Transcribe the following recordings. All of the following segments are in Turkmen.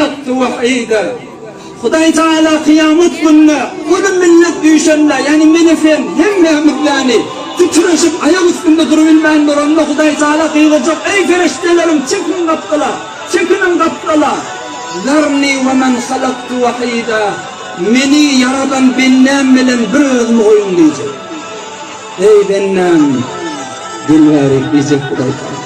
Atly wahyda, Hudaý Tagala kyýamat gününe uly millet düýşende, ýagny meni sen, hemmämiz ýagny, titreşip, aýak üstünde durubilmän duranda, Hudaý Tagala gygyrjak, Eý, perişdelerim, çekiň gapdala! Çekiniň gapdala! Zarni we men halaktu wahyda, Meni ýaradan bendäm bilen bir özümi goýuň diýjek. Eý, bendäm, gelibärik diýjek Hudaý Tagala.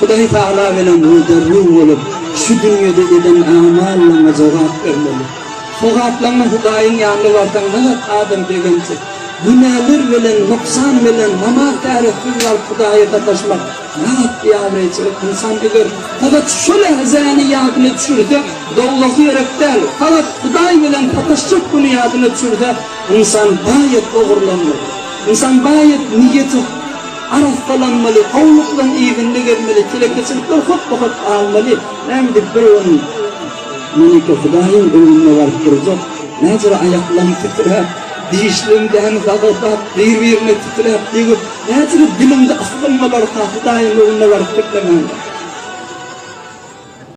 Hudaý Tagala bilen ruda-ru bolup, şu dünýede eden amallaryňa jogap bermeli. Sogaplanma Hudaýyň ýanyna barsaň, nazar adam begenji, günäler bilen, nuksan bilen, namaz-täretsiz galyp Hudaýa sataşmak nähak biabraýçylyk. Ynsan eger sagat şu lähzäni ýadyna düşürse, dowzahy ýerek däl, sagat Hudaý bilen sataşjak güni ýadyna düşürse, ynsan baýat ogurlanmaly. Ynsan baýat niýeti. arassalanmaly, howlukdan yzynda gezmeli, telekeçilikler hotda-hot galmaly. Näme edip bir gün Melike Hudaýyň öňünde baryp durjak, mäjara aýaklaryň titräp, dişleriň däni zagazap, bir-birine titräp, degip, mäjara diliňde asgynma barka Hudaýyň öňünde baryp geplemän bar.